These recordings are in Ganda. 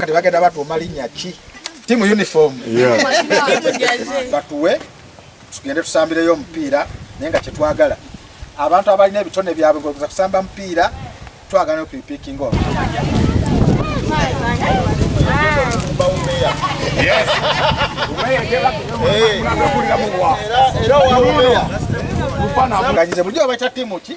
Kati bagenda batuuma linnya ki? Timu uniform. Batuwe tugende tusambireyo omupiira naye nga kyetwagala abantu abalina ebitone byabwe ngoza kusamba mupiira twagala okuipikinga oyo era wawuleya mufananganyize bulijjo babaita tiimu ki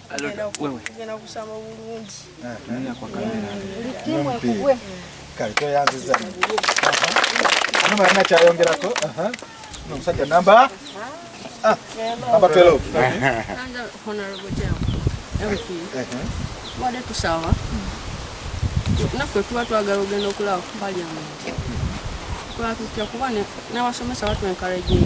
omusajja namba ah, namba 12 wade tusawa naffe tuba twagala ogenda okulaba parliament twatutya kuba n'abasomesa batu encouraging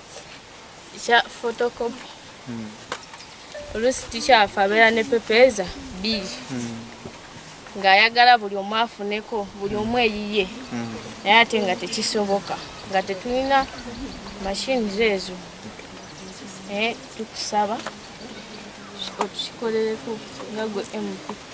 kya photocopy hmm. oluusi tikyafa abeera ne pepeeza bbiri hmm. ng'ayagala buli omu afuneko buli omu eyiye hmm. naye ate nga tekisoboka nga tetulina mashines ezo naye tukusaba otukikolereko nga gwe mpp